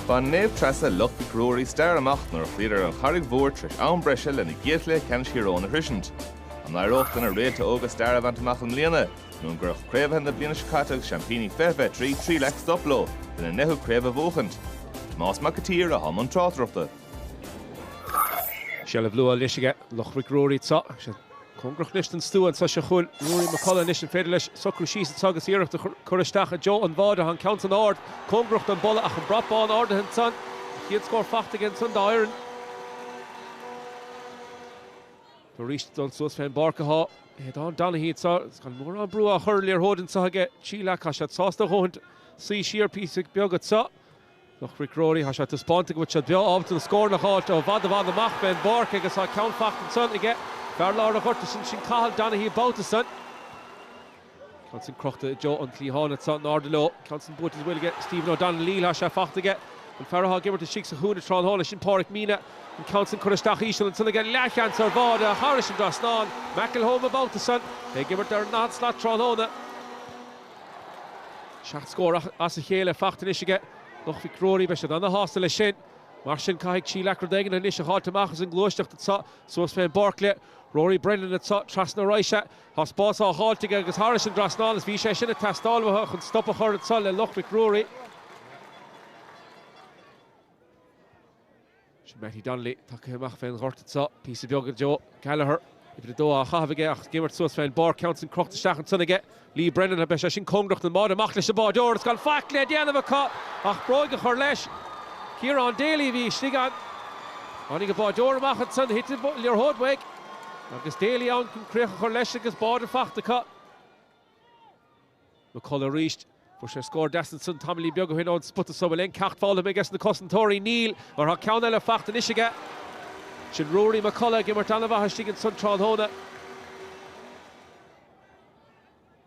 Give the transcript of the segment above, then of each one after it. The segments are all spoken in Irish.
Bhain Naomh Treasa Loch Mhic Ruairí stair amach nuair a chloíodar an Charraig Mhór tar éis am breise lena gcéad chluiche ceannais Thír Eoghain a shroisint. An éireodh do na réalta óga stair a bhaint amach i mbliana, nó an gcuirfeadh craobhaithe na bliana seo caite agus seaimpíní 2023 Trí Leac stop leo lena ndeichiú craobh a bhuachaint? Tomás Mac an tSaoir atá i mbun tráchtaireachta. Seilbh luath anois aige Loch Mhic Ruairí sa Cóngarach anois don stua annso seo chugainn Ruairí Mac Colla anois. An féidir leis socrú síos annso agus iarracht a chur isteach i dtreo an bháid a thá'n ceann san árd cóngarach do'n bpolla ach an brat bán árdaithe annsan. An chéad scór fachta aige annsan dá fhoireann. Tá aríst dul suas fé'n bpáirc athá Aodhán Donaghy annso agus gan mórán brú á chur ar liathróid annso aige. Trí Leac tá siad sásta a dhóthaint suí siar píosa beag annso. Loch Mhic Ruairí, Thá sé taispeánta go bhfuil siad breá ábalta na scóranna a fháilt ó i bhfad i bhfad amach fén bpáirc agus thá ceann fachta ansan aige. Fear lár an ghorta sin, sin Cathal Donaghy an babhta san. Ceann san crochta i dtreo an cliatháin anso in airde leo. Ceann san buailte sa bhfuil aige Stephen O'Donnell, thá sé fachta aige. An fear athá ag imirt istigh sa chúinne tráthnóna, sin Pádraic Meenagh. An ceann san curtha isteach íseal ansan aige. Leathsheans ar bhád ach thairis an dtrasnán. McElholm an babhta san. É ag imirt ar an ndaichead slat tráthnóna. Seacht scór as a chéile fachta anois aige Loch Mhic Ruairí. Beidh siad ana-shásta leis sin. Mar sin caithfidh Trí Leac rud éigin anois a dh'fháilt amach as an ngluaisteacht atá suas fén bpáirc le Rory Brennan atá trasna ar ais é. Tá spás á dh'fháilt aige agus thairis an dtrasnán is bhí sé sin ag teastáil uathu chun stop a chur anso le Loch Mhic Ruairí. Sin Mattie Donnelly tagtha amach fén ghort anso. Píosa beag. Daire Gallagher, uimhir a dó, á chaitheamh aige ach ag imirt suas fén bpáirc. Ceann sin crochta isteach ansan aige Lee Brennan. An mbeidh sé sin cóngarach don mbád? Amach leis an bháideoir agus gan faic le déanamh acu ach bróig a chur leis. Ciarán Daly a bhí istigh ann. Tháinig an báideoir amach ansan, thit an liathróid uaidh agus Daly ann chun críoch a chur leis agus bád fachta acu. Mac Culadh arís. Fuair sé scór deas ansan tamaillín beag o shoin ó'n spota so. Bhfuil aon ceacht foghlamtha aige 'sna cosantóirí? Níl, mar tá ceann eile fachta anois aige. Sin Ruaidhrí Mac Culadh ag imirt an-mhaith istigh ansan tráthnóna.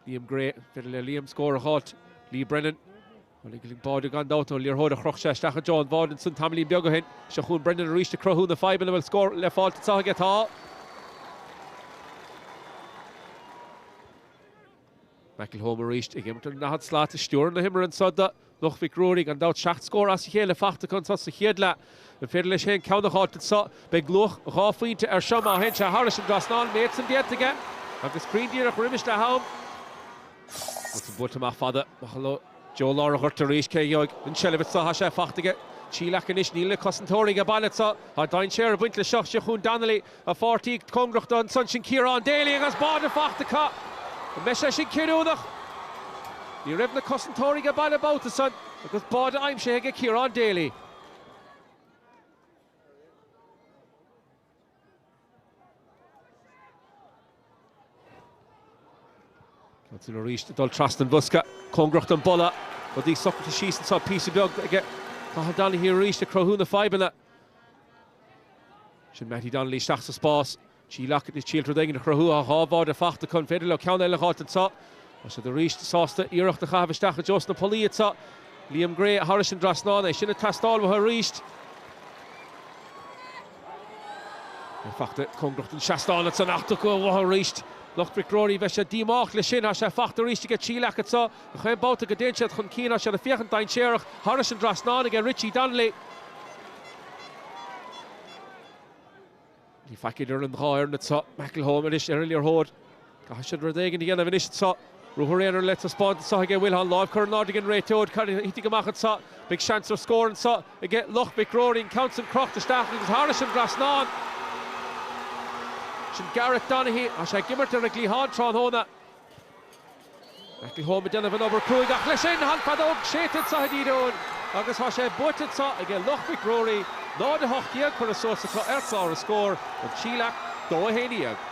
Liam Gray, an féidir le Liam scór a dh'fháilt. Lee Brennan. Bhuel tháinig bád gan dabht do'n liathróid a chroch sé isteach i dtreo an bháid ansan tamaillín beag o shoin. Seo chugainn Brennan arís ag cruthú na fadhbanna. Bhfuil scór le fáilt anso aige. Tá. McElholm arís ag imirt ar an ndaichead slat ag stiúradh na himeartha anso do Loch Mhic Ruairí. Gan dabht seacht scór as a chéile fachta acu anso sa chéad leath. An féidir leis féin ceann a dh'fháilt anso? Beidh luach dhá phointe air seo má théann sé thairis an dtrasnán. Méid san déanta aige agus Crean díreach roimis leath am. Ceann san buailte amach fada. Amach leo i dtreo lár an ghoirt arís. Cé a gheobhaidh an tseilbh anso? Thá sé fachta aige Trí Leac anois, níl na cosantóirí age baile anso. Thá dainséar ag baint leis seo. Seo chugainn Donnelly. A pháirtí cóngarach do ansan sin Ciarán Daly agus báide fachta acu. An mbeidh sé sin cinniúnach? Ní raibh na cosantóirí aige baile babhta san agus báide aimsithe aige Ciarán Daly. Tá tú arís ag dul trasna an bhosca. Cóngarach don bpolla. Rudaí socraithe síos anso. Píosa beag ag Cathal Donaghy arís ag cruthú na fadhbanna. Sin Mattie Donnelly isteach sa spás. Trí Leac ag triail rud éigin a chruthú. Tá dhá bháide fachta acu. An féidir leo ceann eile a dh'fháilt anso? Tá siad arís sásta iarracht a chaitheamh isteach i dtreo sna pollaí atá. Liam Gray thairis an dtrasnán. É sin ag teastáil uathu arís. Tá sé fachta cóngarach don seastán tá sé fachta acu uathu arís. Loch Mhic Ruairí bheadh siad díomách leis sin. Tá sé fachta arís aige Trí Leac atá. Gach aon babhta go dtéann siad chun cinn tá siad ag féachaint dainséarach. Thairis an dtrasnán aige Richie Donnelly. Níl faic idir an dhá fhoireann anso. McElholm anois ar an liathróid. Caithfidh siad rud éigin a dhéanamh anois anso. Ruathar aonair le taispeáint anso aige McElholm. Láimh curtha in airde ag an réiteoir. Cad a thitfidh amach anso? Beidh seans ar scór anso aige Loch Mhic Ruairí. An ceann san crochta isteach agus thairis an trasnán. Sin Gareth Donaghy. Tá sé ag imirt ar an gcliathán tráthnóna. McElholm ag déanamh an obair cruaidh ach leis sin tá an fheadóg séidte anso ag an réiteoir agus tá sé buaite anso aige Loch Mhic Ruairí, 0, 18, curtha suas acu ar clár an scór, an Trí Leac, 2, 11.